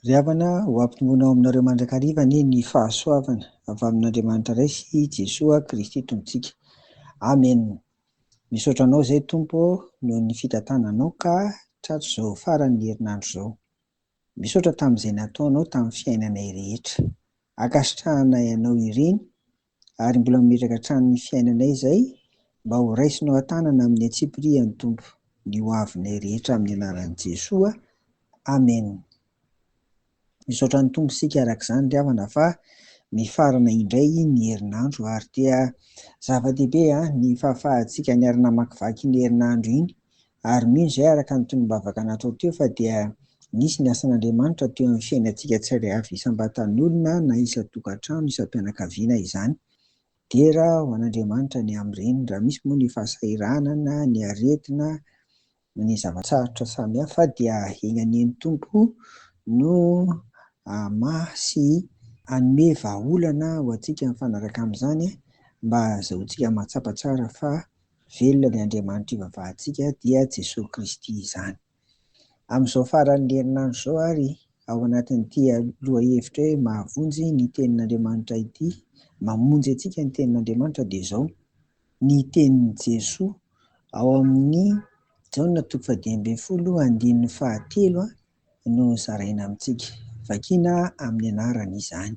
Ry havana, ho ampitombona ao aminareo mandrakariva anie ny fahasoavana avy amin'Andriamanitra Ray sy i Jesoa Kristy Tompontsika. Amen. Misaotra Anao izay Tompo ô noho ny fitantananao ka tratry izao faran'ny herinandro izao. Misaotra tamin'izay nataonao tamin'ny fiainanay rehetra. Ankasitrahanay Anao ireny ary mbola mametraka hatrany ny fiainanay izay mba ho raisinao an-tanana amin'ny antsipirihan'ny Tompo ny ho avinay rehetra amin'ny anaran'i Jesoa, Amen. Misaotra ny Tompo isika araka izany ry havana fa mifarana indray ny herinandro ary dia zava-dehibe ny fahafahantsika niara-namakivaky iny herinandro iny ary mino izahay araka ny tonom-bavaka natao teo fa dia nisy ny asan'Andriamanitra teo amin'ny fiainantsika tsirairay avy isam-batan'olona na isan-tokantrano, isam-pianakaviana izany. Dera ho an'Andriamanitra ny amin'ireny raha misy moa ny fahasahiranana, ny aretina, ny zava-tsarotra samihafa dia eny anian'ny Tompo no hamaha sy hanome vahaolana ho antsika mifanaraka amin'izany mba hahazoantsika mahatsapa tsara fa Velona ny Andriamanitr'io vavahantsika, dia Jesoa Kristy izany. Amin'izao faran'ny herinandro izao ary, ao anatin'ity lohahevitra hoe mahavonjy ny Tenin'Andriamanitra ity, mamonjy antsika ny Tenin'Andriamanitra, dia izao ny tenin'i Jesoa ao amin'ny Jaona toko fahadimy ambin'ny folo andininy fahatelo no zaraina amintsika, vakina amin'ny anarany izany,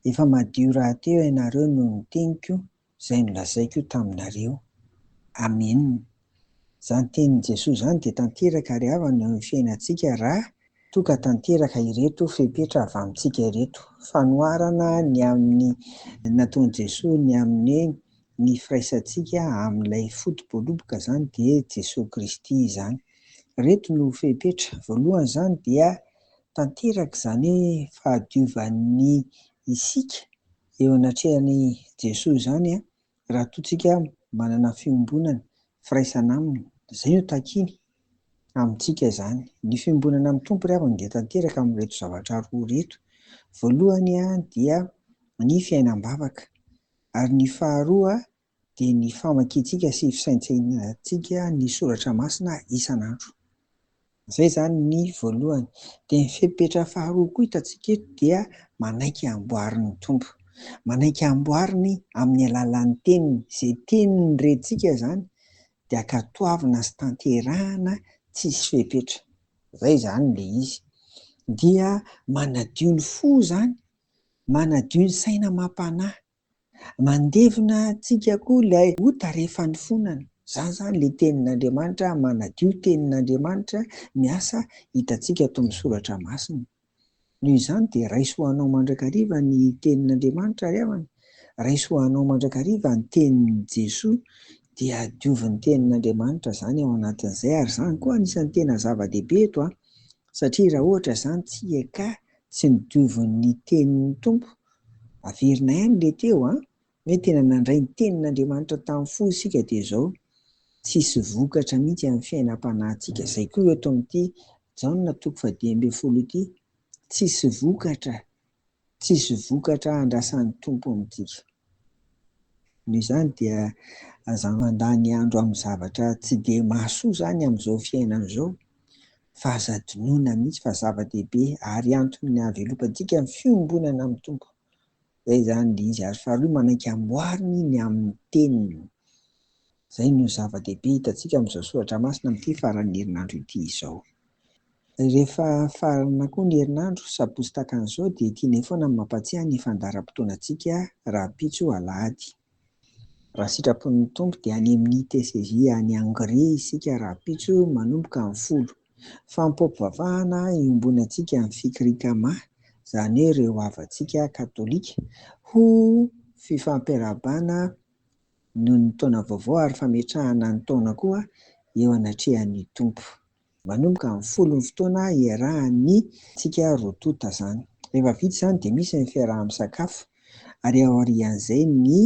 Efa madio rahateo ianareo noho ny teniko, Izay nolazaiko io taminareo. Amena. Izany tenin'i Jesoa izany dia tanteraka ary havana eo amin'ny fiainantsika raha toa ka tanteraka ireto fepetra avy amintsika ireto. Fanoharana ny amin'ny nataon'i Jesoa ny amin'ny hoe ny firaisantsika amin'ilay foto-boaloboka izany dia Jesoa Kristy izany. Ireto no fepetra. Voalohany izany dia tanteraka izany hoe fahadiovan'ny isika. eo anatrehan'i Jesoa izany raha toa tsika manana fiombonana, firaisana Aminy, izay no takiany amintsika izany. Ny fiombonana amin'ny Tompo ry havana dia tanteraka amin'ireto zavatra roa ireto, voalohany dia ny fiainam-bavaka, ary ny faharoa dia ny famakiantsika sy fisaintsainantsika ny soratra masina isan'andro. Izay izany ny voalohany. Dia ny fepetra faharoa koa hitantsika eto dia manaiky hamboarin'ny Tompo. Manaiky hamboariny amin'ny alalan'ny teniny. Izay teniny rentsika izany dia ankatoavina sy tanterahana tsisy fepetra. Izay izany ilay izy. Dia manadio ny fo izany, manadio ny saina amam-panahy. Mandevina antsika koa ilay ota rehefa nifonana. Izany izany ilay tenin'Andriamanitra, manadio tenin'Andriamanitra, miasa hitantsika ato amin'ny soratra masina. Noho izany dia raiso ho anao mandrakariva ny tenin'Andriamanitra ry havana, raiso ho anao mandrakariva ny tenin'i Jesoa, dia diovy ny tenin'Andriamanitra izany ao anatin'izay, ary izany koa anisan'ny tena zava-dehibe eto an! Satria raha ohatra izany tsy eka tsy nodioviny ny tenin'ny Tompo, averina ihany ilay teo an, hoe tena nandray ny tenin'Andriamanitra tamin'ny fo isika dia izao tsisy vokatra mihitsy amin'ny fiainam-panahintsika, izay koa eto amin'ity Jaona toko faha dimy ambin'ny folo ity, tsisy vokatra Tsisy vokatra andrasan'ny Tompo amintsika. Noho izany dia aza mandany andro amin'ny zavatra tsy dia mahasoa izany amin'izao fiainana izao fa aza adinoina mihitsy fa zava-dehibe ary antony hahavelopantsika ny fiombonana amin'ny Tompo. Izay izany ilay izy ary faharoa manaiky amboariny ny amin'ny teniny. Izay no zava-dehibe hitantsika amin'izao soratra masina amin'ity faran'ny herinandro ity izao. Rehefa farana koa ny herinandro, sabotsy takan'izao dia tianay foana ny mampatsiahy ny fandaharam-potoanantsika rahampitso alahady. Raha sitrapon'ny Tompo dia any amin'ny TCJ any Hongrie isika rahampitso manomboka amin'ny folo. Fampiompivavahana iombonantsika ny Fikri Kama, izany hoe ireo havantsika katolika, ho fifampiarahabana noho ny taona vaovao ary fametrahana ny taona koa eo anatrehan'ny Tompo. Manomboka amin'ny folo ny fotoana iarahan'ny tsika roa tonta zany. Rehefa vita izany dia misy ny fiaraha-misakafo ary aorian'izay ny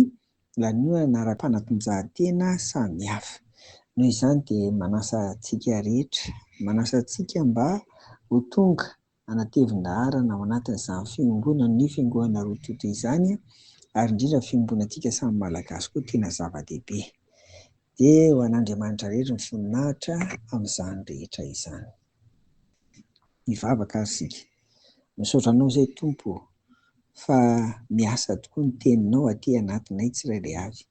lanonana ara-panatanjahantena samy hafa. Noho izany dia manasa antsika rehetra, manasa antsika mba ho tonga. hanatevin-daharana ao anatin'izany fiombonana an'io fiangoana roa toto izany ary indrindra ny fiombonantsika samy Malagasy koa tena zava-dehibe. Dia ho an'Andriamanitra irery ny voninahitra amin'izany rehetra izany. Hivavaka ary isika. Misaotra Anao izay Tompo o, fa miasa tokoa ny Teninao aty anatinay tsirairay avy.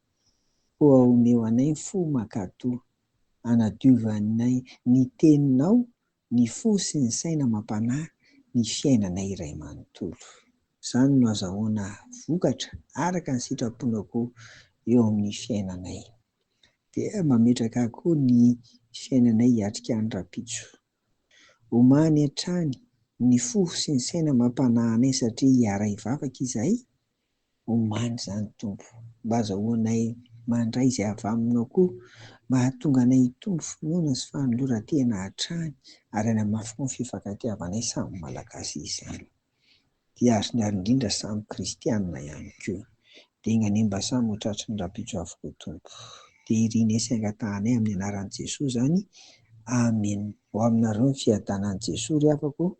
Koa omeo anay ny fo mankatò, hanadiovanay ny Teninao Ny fo sy ny saina amam-panahy ny fiainana iray manontolo. Izany no azahoana vokatra araka ny sitraponao koa eo amin'ny fiainanay. Dia mametraka koa ny fiainanay hiatrika any rahampitso. Omany hatrany ny fo sy ny saina amam-panahinay satria hiara-hivavaka izahay Oman izany Tompo, mba azahoanay mandray izay avy Aminao koa mba hahatonga anay hitombo finoana sy fanoloran-tena hatrany ary hanamafy koa ny fifankatiavanay samy Malagasy izany. Dia azony ary indrindra samy Kristianina ihany koa. Dia nganie mba samy ho tratry ny rahampitso avokoa Tompo. Dia irinay sy angatahanay amin'ny anaran'i Jesoa izany. Amen. Ho aminareo ny fiadanan'i Jesoa ry havako ô.